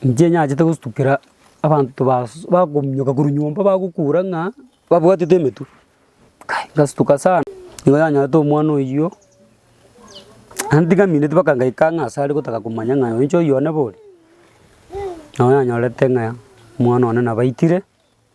inche nyachete gostukia abanto bas bakominyoka korwa nyomba bagokura ng'a babwatete emetwe. Kai ngastuka sana, nigo nanyorete omwana oyio, naende tingamineti mpaka ngaika ang'e ase are gotaka komanya ng'a oyo inche oyone bori. Nabo nanyorete ng'a omwana one nabaitire.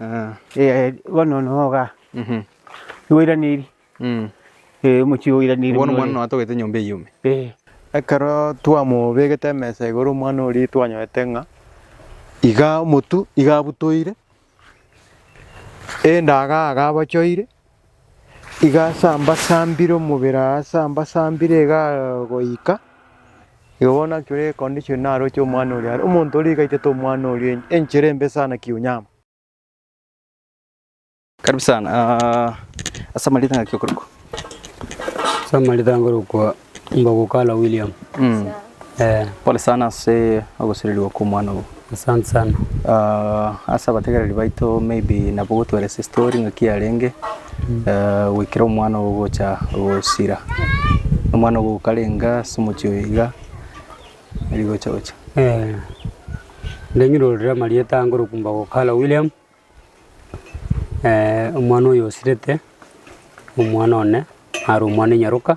Ah. Eh, bono noga. Mhm. Noiraniri. Mm. Eh, omochie oiraniri. Bono mwana no atogete nyomba eyume. Eh. Ekero twamobegete emesa igoro omwana oria twanyorete ng'a iga omotu iga abutoire, endaga aga abochoire. Iga ase ambasambire omobere aa ase ambasambire iga goika, igo bono naki ore econdition naroche omwana oria are, omonto oria iga aitete omwana oria ench- enchere embe sana kiunyama. Karibu sana, aah, ase amarita ng'aki okorokwa? Ase amarita nkorokwa Ngogokala William. Mm. Eh. Pole sana ase ogosererigwa kw'omwana obo. Asante sana. Uh, ase abategereri baito maybe nabo gotweresa story ng'aki yarenge mm. uh, goikera omwana obo gocha gosira omwana obo okarenga ase omochi oyo iga eri gocha gocha eh. ndeng'irorere amarieta angorokumba gokala William eh, omwana oyo osirete omwana one are omwana enyaroka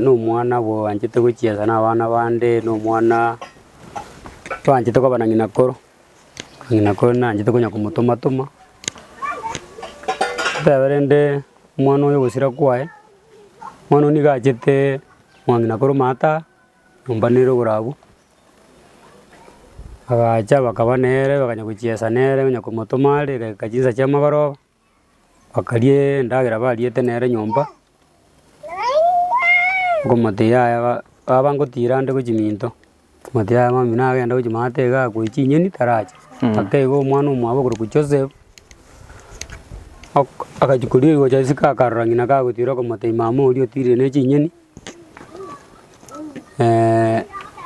nomwana obo oanchete gochiesa na abana bande, na omwana toanchete koba na ng'ina koro, ng'ina koro nanchete konya komotoma toma. Totebe rende omwana oyo ogosira kwaye, omwana oyio nigo achete kong'a ng'ina koro maata aa, nyomba nere igoro agwo, agacha bakaba nere bakanya gochiesa nere, onya komotoma are egeka chinsa chi'amagoroba. Bakaria endagera bariete nere nyomba, okomotebi yaya ba baba ngotiira nde gochia minto, okomotebi yaya mambia nagende gochia maate iga akoe chinyeni taracha. Ake iga omwana omwabo okorokwa Joseph, ok- agachia koria rigocha isiko akarora ng'ina kagotiira okomotebi mama oria otiirire ne chinyeni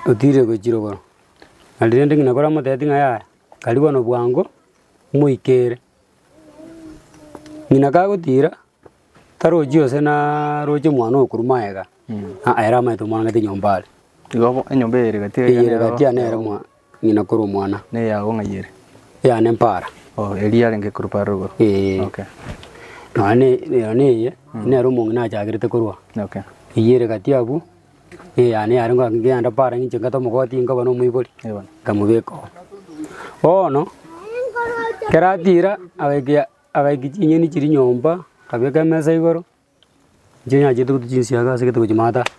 otiirire gochia chirogoro. Nari rende ng'ina koramotebeti ng'a yaya, karibu bono bwango, moikere. Ng'ina kagotiira, tarochi gose na roche omwana okorwa magega, aa ere amaete omorangete nyomba are. Igo bo enyomba eyere gati Eyere eyere gati yane ere mwa ng'ina korwa omwana, Neyao ng'a yere. yane mpara. Oh, eria yarenge korwa paro igoro. Ee. Okay. Nonya ne- nonya neye, nere omong'ina achagerete korwa. Okay. Eyere gati abwo, Eyane yarenge ng'a ngende paaro ng'inche ngete omogoti nkoba nomoibori, nkamobeka oo. Bono ekero atira agaika agaiki chinyeni chiria nyomba, akabeka emesa igoro, inche nyachete gotwa chinsiaga ase egete gochia maatari.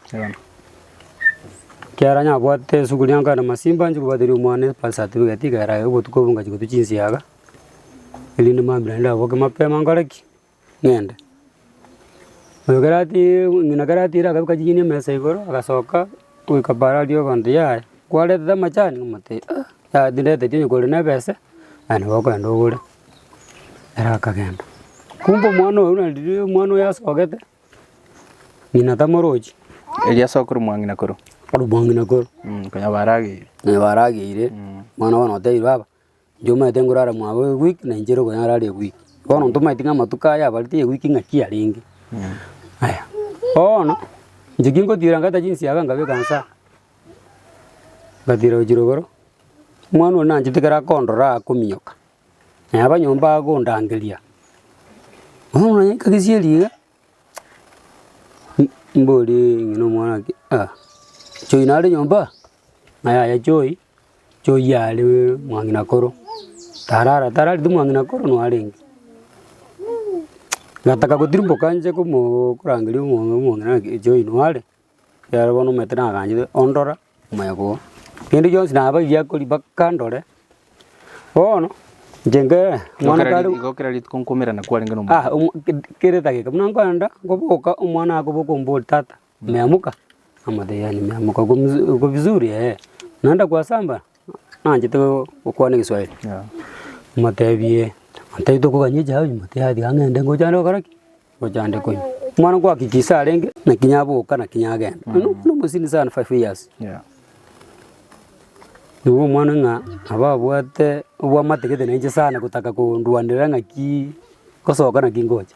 Ekiagera nyabwate esuguria nkaenda masimba nchia kobwateria omwana ebirth certificate iga erae obotuko obwo ngachia gotwa chinsiaga, erinde mambia naende ndaboke mapema nkore ki. ng'ende. Oyo ekero atiire ng'ina ekero atiire akabeka chinyeni emesa igoro, agasoka goika paaro aria abanto yaya, kwarentete amachani? Omote ah, yaya tindetetie onye kore nebese, aye nabo okogenda ogore. Ere akagenda, kumbe omwana oyio na riria omwana oyio asogete, ng'ina tamorochi. Erio asokorwe mwang'ina korwa. Korwa mwang'ina korwa. Konya barageire. Konya barageire, mwana bono otebiwe baba. Inche omanyete nkorara mwabo ewiki, na inche ere okonyara are ewiki. Bono ntomanyeti ng'a amatuko aya abarete ewiki ng'aki arenge. Aya, bono inche ki ngotiira ngata chinsiaga nkabeka insa, nkatiira gochia rogoro, omwana oria nanchete ekero akondora akominyoka, naye aba nyomba agondangeria, bono naye nkagesieri iga, mborie ng'ina omwana ake, ah, Choi nare nyomba? Ng'a yaya Choi. Choyare mwang'ina koro, tarara tarareti mwang'ina koro narenge. Nataka gotirimboka nje komoo korangeria omong'ina omong'ina ng'aki echo oino are, ekiagera bono omanyete nagachete ondora omoyega oo. Kende gionsi nabaigia kori mpaka ndore, bono inche nkee mwana kare Igo kera rituko nkomerana kwarenge na omonto. Ah omo ked- kera edageka buna nkoenda, nkoboka omwana akoboka ombori tata. Meamoka, namotebia, Yaani meamoka uko mzu- uko vizuri ee, naenda kwa samba, naanchete go- gokwana egeswahili. Motebie, Ntai tokoganyia echae onye motebie aye tiga ng'ende ngocha ande gokora ki? Ngocha ande konywa. Omwana nkoakikisa arenge, naki naboka naki nagenda. Onye no- nomosini sana five years. Nigo omwana ng'a nabo abwate obwamate gete nainche sana gotaka kondwanera ng'aki ngosoka naki ngocha.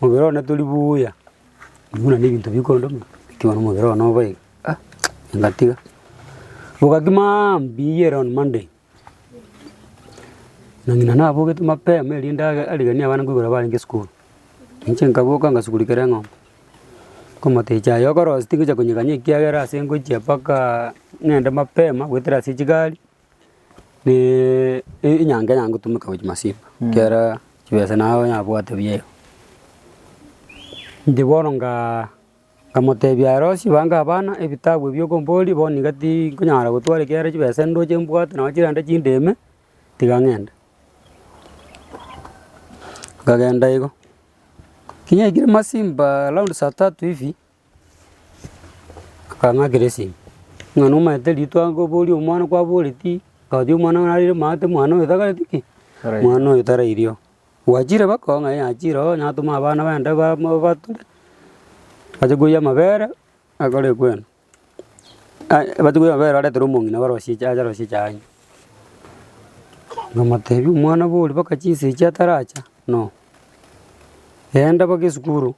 Omobere one tori buya, buna nebinto bikondoma, ekiagera omobere one obe iga ah ngatiga. Bogaki maambia mbiiyie ere on Monday, na ng'ina nabogete mapema erinde age arigenie abana nkoigwera barenge esukuru. Inche nkaboka ngasugurekera eng'ombe, nkomata echa aye okorosia tingocha konyeganya ekiagera ase ngochia mpaka ng'ende mapema goetera ase chigari. Naaaa enyango eria ngotumeka gochia masimba, ekiagera chibesa nabo nyabwate buya iga. Inche bono ngaa nkamotebia arosie bange abana ebitabu ebi okomboria, bono iga tinkonyara gotwara ekiagera chibesa ndoche mbwate nonye chirende chindeme, tiga ng'ende. Nkagenda igo, kinyekire masimba round saa tatu hivi. Akang'akera esegi, ng'a nomaete ritwe ango oborie omwana kwaboreti, gaki omwana one arire omanyete omwana oyo takoreti ki? Omwana oyo tarairio. Gwachire baka oo ng'a ee achire oo natome abana bande bamo batore, ache koyia amabere, akore kwena aye abache koyia amabere aretere omong'ina barosie cha aye arosie chaye. Namotebi omwana boria baka chinsa echi ataracha, no, genda baka esukuru.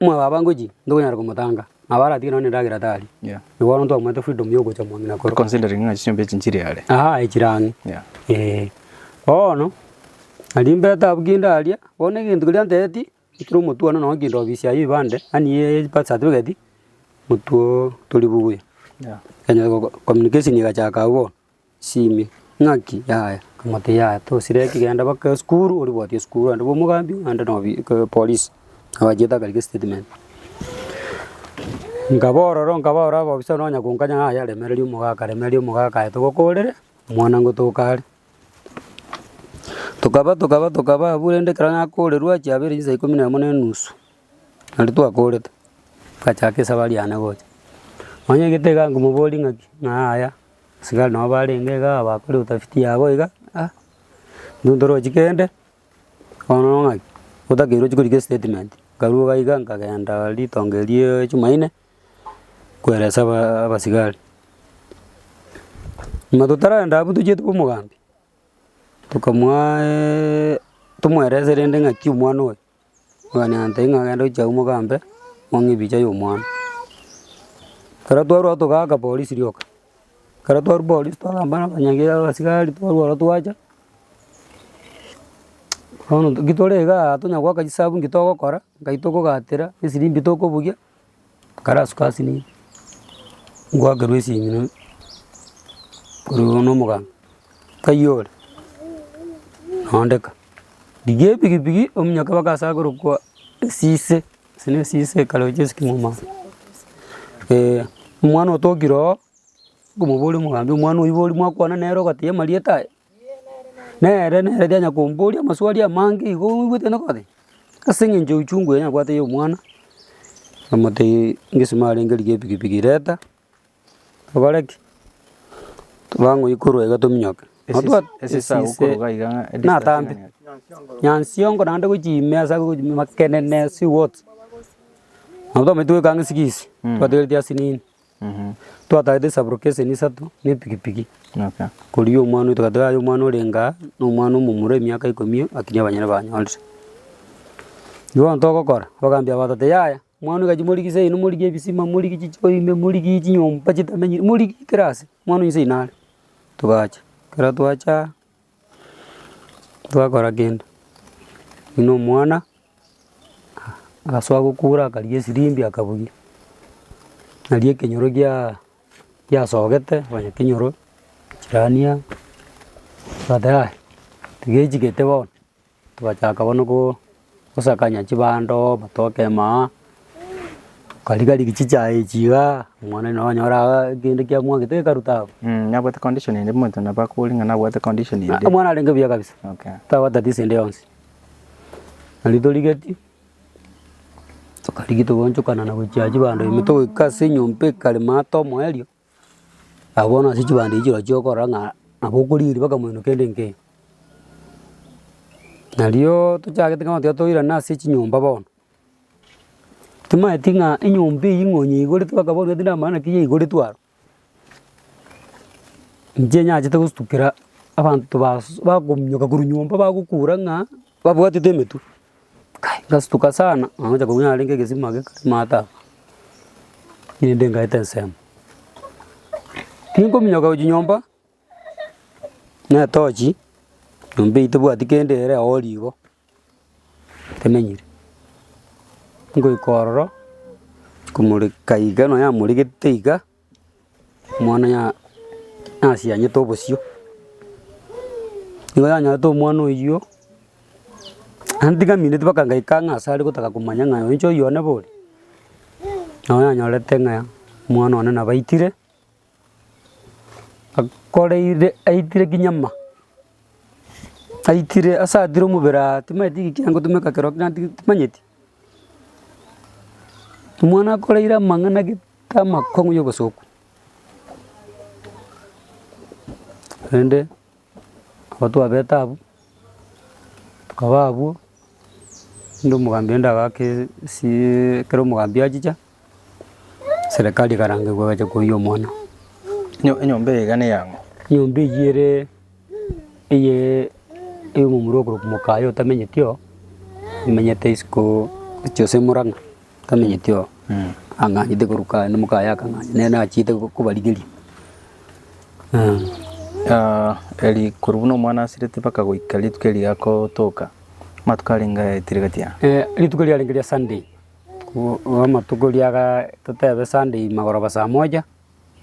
Omwabo aba ngochia, ntokonyara komotanga, na aba aratige nonya endagera tari. Yeah. Nigo bono ntwamanyete freedom ya ogocha omong'ina koro. Considering ng'a chinyomba echi nchire are. Aa echire ang'e. Yeah. Eh, bono nari mbete abwo ki ndaria, bono egento keria antebetie, ekero omotwano nonya keinto ofisi yaye ya ebande, yaani ye birth certificate, motwe oo tori buya. Yeah. Ekanyora ko- communication egachaka abwo bono. Simia. Ng'aki yaya amate yaya tosire ki genda baka esukuru oribwate esukuru ande bwa omogambi ande na obi ke polisi abachete akarigia estatement. Nkaba ororo nkaba ororo abofisa nonya konkanya ng'a yaya remereria omogaka remereria omogaka aye togokorere omwana ngotoka are. Tokaba tokaba tokaba abwo rende ekero nakorerwa achia abere chinsa ikomi na emo na enusu nari twakorete, ngachaka esabari yane gocha. Nonya egete iga nkomoboria ng'aki ng'a yaya. Asigari nabo barenge iga bakore utafiti yabo iga, ah intwe ntorochi kende, bono ng'aki? Otakeirwe chikori chia estatement. Nkaruga iga nkagenda ritonge riaaa jumaine, kweresa abaa abasigari. Buna totaragenda abwo tochiete omogambi, tokamwaaaa tomwerese rende ng'aki omwana oyo. mwanyabanto ng'a genda oche agwo mogambe, mong'e ebicha ya omwana. Ekero twarwa igo togaaka polisi rioka, ekero twarwa polisi twagamba na abanyagi abasigari twarwa ororo twacha, bono nki tore igaa tonya goaka chisabu nki togokora, nkai tokogatera, esiri mbi tokobugia. Nkarasuka ase nibo, ngoakerwa esimino korwa igoro na omoganga, nkayia ore nondeka. Rigia epikipiki ominyoke mpaka ase akorokwa esise, ase ne esise ekare gochia ase kimuma ase, eeh omwana otokire oo, nkomoboria omogambi, omwana oibori mwakwana nere ogoteba amarieta aye. Nere nere kenya komboria amaswali amange igo oigwete noka ore, ase eng'encho euchungu eye nabwate ya omwana, namotebirie ngesima arenge rigia epikipiki reta, tokore ki? Torango ikorwa iga tominyoke. Esisa gokoroga iga ng'a edistance Natambe. ng'a nigo. Nyansiongo naende gochia ime ase abwo gochia ime makenene ase words. Nabo twamaete goika ang'e sigisi, twategereti asinini. Twatagete esaburoko eseni isato na epikipiki. Koria omwana oito gati gaki omwana orenge aa na omwana omomura emiaka ikomi akirie abanyene banyorire. Bono togokora, bagambia abatate yaya, omwana oyo gati morigie seino morigie ebisima morigie chichiko ime morigie chinyomba chitamenyire morigie kera ase, omwana oyo inse aye nare. Togacha, ekero twacha. Tibakora kende, buna omwana agasoa gokura akarigia esiribi akabugia, nari ekenyoro giaa giasogete konya kenyoro chirania, ogoteba yaya tiga echigete bono. Togachaka bono gosakania chibando, batokema aa, tokariga rigia chichae echi igaa, Omonene nonye ore aa kende kia mwagete gekaruta abwo. Mh, nabwate condition ende omonto nabo akore ng'a nabwate condition ende. Omwana arenge buya kabisa, Okay. tabatatia ase ende yonsi. Nari torigetie, tokarigia togochokana na gochia chibando ime togoika ase enyomba ekare maa tomoerio. Agwo bono ase chibando echi chirochio okorora ng'a nabo okorigereria mpaka moino kende nkeiyo. Narioo tochagete kama tiga toirana ase chinyomba bono, timaeti ng'a enyomba eywo ng'a onye yaigoretwe mpaka bono tibwati namaana naki yaigoretwe aro. Inche nyachete gostukera abanto basu bakominyoka korwa nyomba bagokura ng'a babwatete emetwe. Ngastuka sana nangocha kobua narenge egesima ake kare maate aba, erinde ngaete ensemo. Tinkominyoka gochia nyomba na etochi, nyomba eyio tebwati kende ere oo rigo, temenyire. Ngoika ororo, komoreka iga nonya amoregete iga. Omwana ya nasianyete obosio, nigo yanyorete omwana oyio, naende tiga mineti mpaka ngaika ang'e ase are gotaka komanya ng'a oyo inche oyio one bori, nabo yanyorete ng'a omwana one nabo aitire, akoreire aitire kinyama, aitire ase atire omobere aa, timanyeti ki kiagotumeka ekero kina ti- timanyeti. Omwana akoreire amang'ana gete amakong'u y'obosoku, korende nabo twabete abwo, tokaba abwo, rende omogambi rende agaka esiee ekero omogambi achicha. Serekari ekarangigwa egachia koiywa omwana. Nyo- enyomba eye iga neyang'o? Nyomba eywo ere eye eye omomura okorokwa mokaye otamenyeti oo, omenyete isiko gochia gose murang'a, otamenyeti oo ang'anyete korwa kaye na mokaye akang'anya nere nachiete ko- kobarigeria. eri korwa buna omwana asirete mpaka goika rituko eri akotoka, amatuko arenge aya tiga tiga. rituko riarenge ria Sunday. Amatuko ria ga totebe Sunday magoroba saa moja,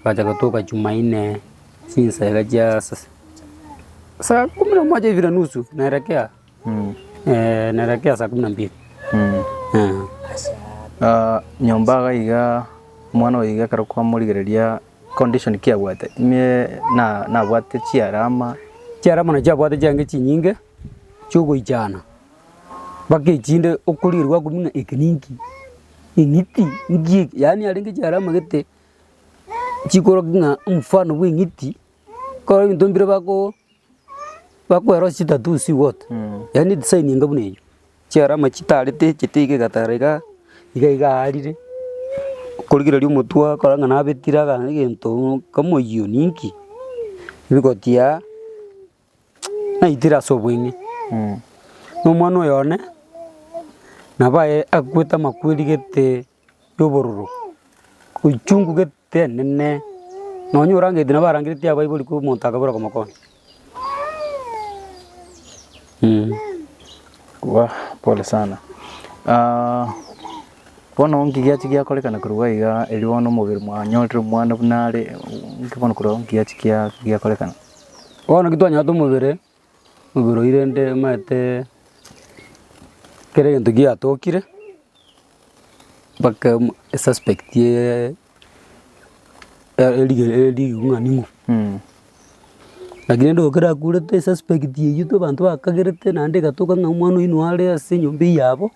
agacha agatuka Jumaine chinsa iga chia sa- saa kumi na moja hivi na nusu naelekea naelekea saa kumi na mbili Ah, nyomba iga iga omwana oyo iga ekero kwamorigereria condition ki abwate, ime na- nabwate chiarama. Chiarama na chiabwate chiange chinyinge chiogoichana. Mpaka echinde okorigereria gwakumia ng'a eke ninki, eng'iti nki eke, yaani yarenge chiara amagete chikorokia ng'a omofano bwa eng'iti, kore ebinto mbire bakoo bakoerosia chitattoos iga ote yaani edesign enga buna eywo, chiara ama chitarete echete iga egatara igaa, iga iga aarire, okorigereria omotwe ogakora ng'a nabetire aga egento nkamoiywo ninki, rigotiaa. naitire ase oboing'e, na omwana oyo one nabo aye akwete amakweri gete ya obororo, uchungu gete enene, nonye orangeti nabo arangeretie abaibori koo omonto akabora okomokonya. Waa pole sana bono nki giachi giakorekana korwa iga erio bono omobere mwanyorire omwana buna are, nki bono korwa iga nki giachi giakorekana. Bono ki twanyorete omobere, omobere oyio rende omanyete kera egento giatokire mpaka emo esuspect yaaaa erige erigung'ani ng'o naki rende okorakurete esuspect eyio abanto bakagerete naende egatoka ng'a omwana oyio nare ase enyomba eyabo.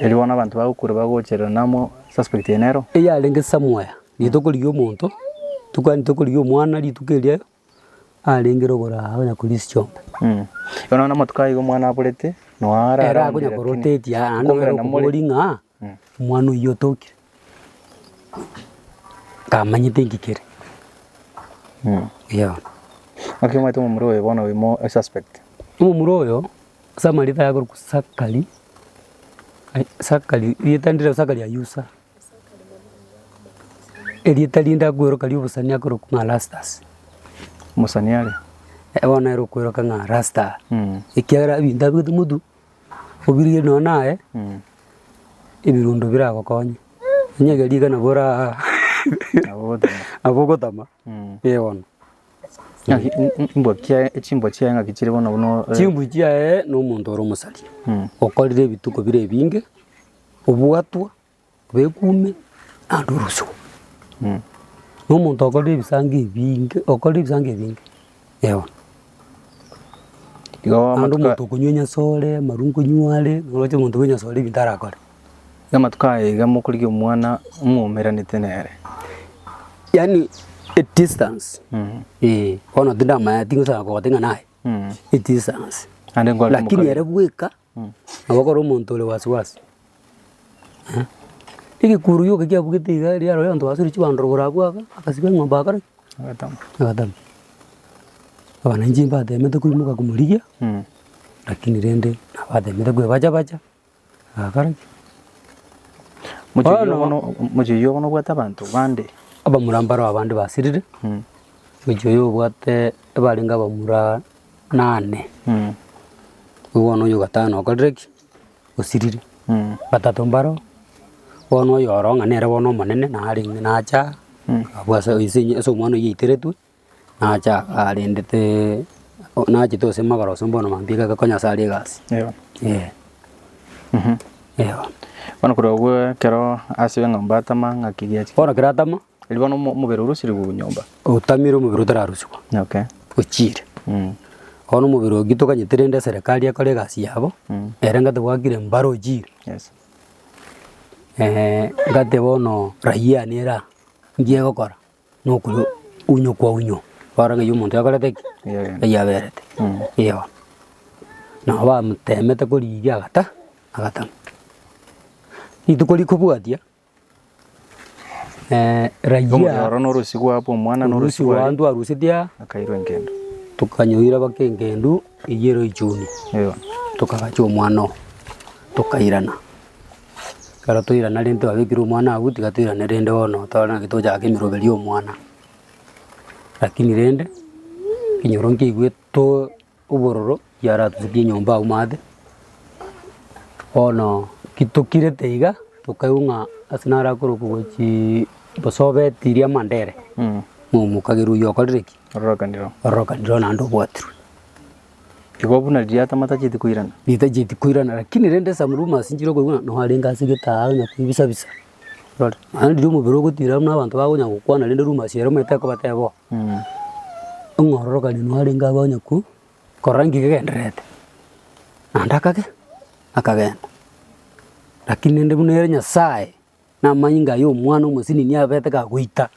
Erio bono abanto bagokura bagocherera namo suspect eye nero. Eyarenge samoya rituko riria omonto tokwana rituko riria omwana rituko eria arenge rogoro aa onya koria ase chiombe. Bono nonya amatuko aiga omwana aborete noo ararondire. Ere akonya korotetia naende nere okobori ng'a omwana oyio otokire. Ntamanyete inki kere. Yao. Naki omanyete omomura oyo bono oimo a suspect. Omomura oyo ase amarita aye akorokwa Sakari, Sakari, erieta ndire Sakari Ayusa, erieta rinde akweroka ri'obosani akorokwa ng'a Rastus. Mosani are. Bono ere okweroka ng'a Rasta. Ekiagera ebinto abwate motu. Obirigeri nonya naye, ebirundo biragokonye, onye ege rigana boraa nabo ogotama, ee bono. Ng'aki i- i- imbwa kiaye chimbwa chiaye ng'aki chire bono buna Chimbwa chiaye na omonto ore omosaria, okorire ebituko bire ebinge, obwatwa Begume naende orosugwa. Na omonto okorire ebisaango ebinge, okorire ebisaango ebinge, ewa. Igo Naende amatuko omonto okonywa enyasore, amarwa konywa are, oroche omonto bwa enyasore ebinto arakore. na amatuko aya iga mokorigia omwana mwaumeranete nere. Yaani edistance, eeh, bono tindamaeti inche osagete ng'a naye, edistance. Naende nkwarete Lakini omokania. ere bweka. Nabo ekero omonto ore wasiwasi, egekuru gioka kiabugete iga erio aroro abanto basoire chibando rogoro agwo aka, agasiba eng'ombe agakora ki? Agatama. Agatama. Abana inche mbatemete koimoka komorigia, rakini rende nabo atemete kwebacha bacha, agakora ki? Mochiei Bono- obo no- o- mochiei obo nobwate abanto bande. Abamura mbaro abande basirire, mochiei oyo obwate, ebarenge abamura nane, bono oyio ogatano okorire ki? Osirire. Batato mbaro, bono oyo oro ng'a nere bono omonene nare ng'a nacha abwo ase ase enye ase omwana oyio aiteretwe, nacha arendete nachete gose magoro gose mbono maambia igake konya ase aria egasi. Eh. Bono korwa agwo ekero ase eng'ombe atama ng'aki giacha ki? Bono ekero atama, Riria bono omo- omobere orosirigwe nyomba. Otamire omobere otararusigwa Okay. ochiire. Mm. Bono omobere oki tokanyete rende eserekari ekore egasi yabo Mm. ere ngate gwakire mbare ochiire. Yes. ngate bono raia nere aa nki egokora na okoyo unywa kwaunywa bare ng'ai omonto yakorete ki? Yaberete. Ng'ai yaberete. Mm. Eoa. Nabo bamotemete korigia agata agatama. Rituko rikobwatia. Rayia orusi rw'abanto arusetie aa, tokanyoira baka engendu eyio ero ichuni, tokagacha omwana oo, tokairana. Ekero twairana rende twabekire omwana agwo tiga toirane rende bono tware naki tochake emeroberi y'omwana. Rakini rende, ekenyoro nkeigwe to. Obororo yaratusetie enyomba agwo maate, bono kitokirete iga tokaigwa ng'a ase naro akorokigwa chii bosobeti ria Mandere, ng'a omokagerwa oyio okorire ki? Ororokanire oo. Ororokanire oo naende obwatirwe. Igo buna riria atamatachieti koirana. Ritachieti koirana lakini rende some rumours nchire okoigwa ng'a noo arenge ase gete aa onye koibisa bisa, rore. Naende riria omobere ogotira buna abanto bakonya gokwana rende rumours ere omanyete ekobateba oo. Omwororokani narenge agwo onye kwo korora nki gegendererete, naende akagenda, akagenda. Rakini rende buna ere Nyasaye, na amanyinga aye omwana omosini niye abete gagoita,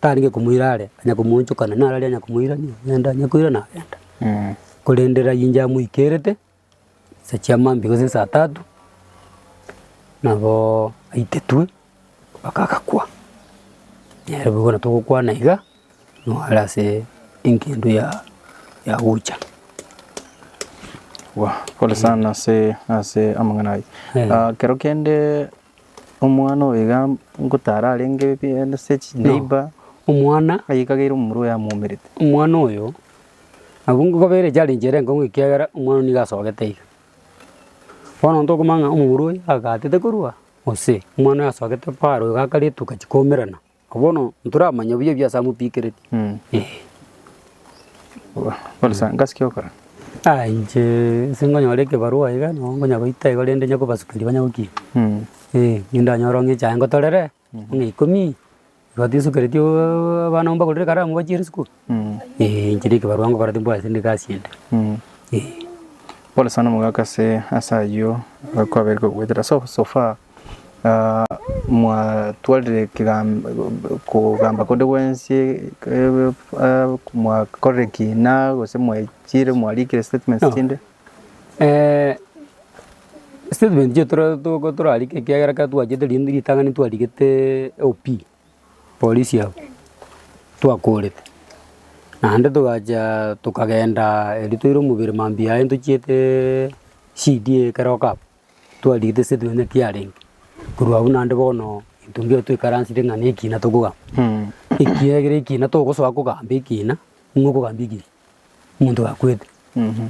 tarenge komoira are, onye komoonchokana narari onye komoira niagenda, onye koira nagenda. Korende raia inche amoikerete. Inse chiamambia gose insaa tatu, naboo aitetwe mpaka agakwa. Nere boigo na togokwana iga, nore ase eng'endo ya ya gocha. Pole sana ase ase amang'ana ayio. Eh. Kero kende omwana oyo iga ngotara arenge pi ase chineiba, Omwana, aikageire omomura oyo amwaumerete. omwana oyo. Abungo babere eria chiare inchera enkong'u ekiagera omwana oyio nigo asogete iga. Bono onto okomanya ng'a omobura oyo agatete korwa gose omwana oyo asogete paaro iga akare etuka chikomerana. Ko bono ntoramanya buya buya ase amopikereti eh. Bono sa ngasikia gokora? Aa inche ase nkonyora ekebarua iga, nabo nkonyagoita igo rende nyakobasukeria banyagokina eh, rende ndanyore ong'e echae ngotorere. Buna ikomi, igo tinsokereti ooh abana abwo mbagorere ekaramu bachie risiko, eh inche na ekebarua ngokora timbwate tindi egasi ende eh. Pole sana omogaka ase ase ayio kwabeire kogoetera so so far ah mwatwarire ekegam kogamba konde gwensi ebe ah mwakorire ekina gose mwechire mwarikire statements chinde. statement chiaito tore torarike ekiagera ekero twachete rende ritang'ani twarigete OP polisi aba twakorete. Naende togacha tokagenda erio toire omobere mambia aye ntochieteeee CD ekero okaba twarigete statement ng'a ki yarenge. Korwa agwo naende bono intwe mbweoa toikaransete ng'a nekina tokogamba. Ekiagera ekina togosoa kogamba ekina, nigo okogamba ekiya. Omonto gakwete,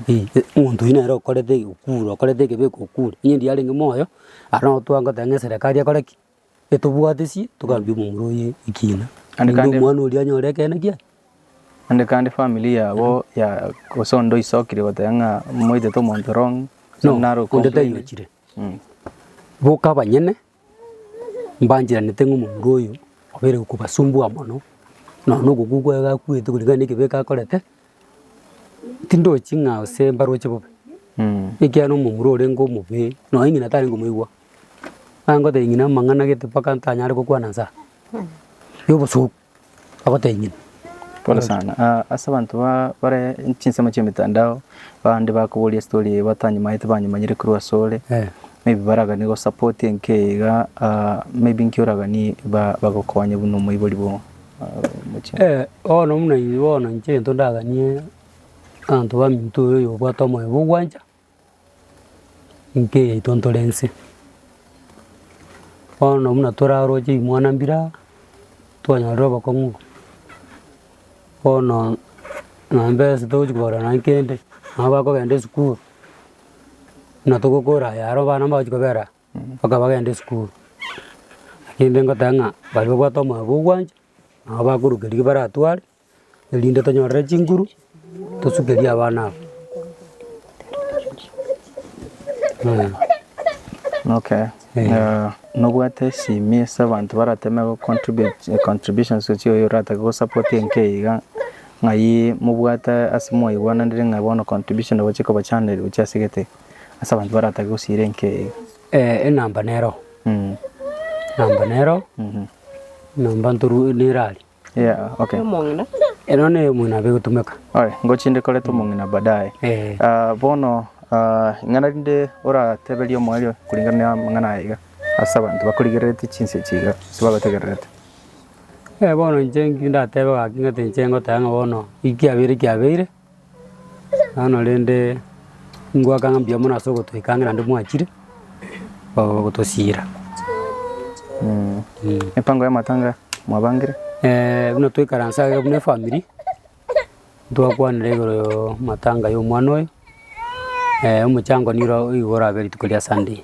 eh, omonto oyio nere okorete egekuro, okorete ekebe egekure. Onye erio yarenge moyo, aro nabo twagoteba ng'a eserekari ekore ki? Etobwatesie, togambie omomura oye ekina. Naende Naende kandi- omwana oria anyore ekeene kiaye. Naende kandi family yabo ya gose onde oisokire goteba ng'a moitete omonto wrong, No, naro onde okomplaini. tayochire. Mm. Boka abanyene. Mbancheranete ng'a omomura oyo obe ere kobasumbua mono, nonya na ogokwa kwaye gakwete koreng'ana na ekebeeka akorete, tindochi ng'a gose mbaroche bobe, ekiagera omomura orenge omobe, nonya ng'ina tari ngomoigwa, nangotebia ng'ina amang'ana gete mpaka ntanyare gokwana nsa, yobosuku. Agoteebia, Pole sana. Ah, ase abanto ba bare chinsemo chi'emetandao, abande bakoboria story eye batanyimanyete banyimanyire korwa ase ore, Eh. maybe baraganie go support enka eye iga, ah, maybe inki oraganie ba bagokonye buna omoibori bwa ah, omochie. Eh, bono buna inche bono inche egento ndaganie abanto baminto oyo obwate omoyo bwa ogwancha. Inki eyaito ntore inse? Bono buna toraroche imwana mbira, twanyorire obokong'u, bono nonya mbesa togochia kogora nonya kende, nonya bakogenda esukuru, buna togokora aya aro abana mbagochi kobera mpaka bagende esukuru. Naende ngoteba ng'a baria babwate omwabo ogwancha, nabo bakorwa riba baratware. erinde tonyorere chinguru tosukerie abana aba. Okay, eh, nobwate esimi ase abanto barateme go contribute- contributions echio oyo orate gosapoti enka eye iga, ng'ai mobwate ase mwaigwananire ng'a bono contribution nabo chikobachanera gochia ase gete iga, ase abanto baratake gosiira enka eye iga? Eh, enamba nero, Mm, enamba nero, mhm, enamba ntoru- neraria. Yeah, okay. Omong'ina. Eno ne omong'ina abe gotumeka. Oye, ngochinde koreta omong'ina baadaye. Eh. Ah, bono ah, ing'ana rinde orateberie omoerio kulingana na amang'ana aya iga ase abanto bakorigereretie chinsa echi iga ase bagotegererete. Eh, bono inche nki ndatebe gaki ng'oteba inche ngoteba ng'a bono ki kiabeire kiabeire. Bono rende ngoaka ng'a mbuya mono ase ogotoika ang'e naende mwachire gotosiira. Mipango y'amatanga mwabangire? Eh, buna toikaranse iga buna efamiri, twakwanire igoro y'amatanga y'omwana oyo, omochango nigo orabe rituko ria Sunday.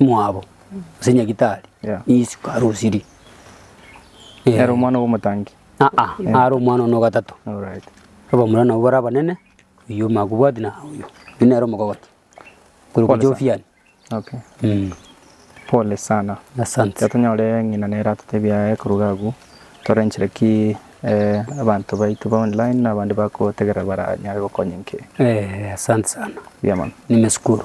mwabo, gose nyagitari, Yeah. nigo isiko arosirie. Eh, Nere omwana bw'omotangi. aa, naro omwana one o gatato. Alright. Abamura nabo bare abanene, oyio omakobwati na oyio. Oyio nere omokogoti. Korwa Pole sana. Jovian. Okay. Mm. Pole sana. Asante. Tiga tonyore ng'ina nere atotebie aye koruga agwo torenchire ki eh, abanto baito ba online na abande bakotegerera baranyare gokonyinke. Eh, asante sana. Buya mono. Nimeshukuru.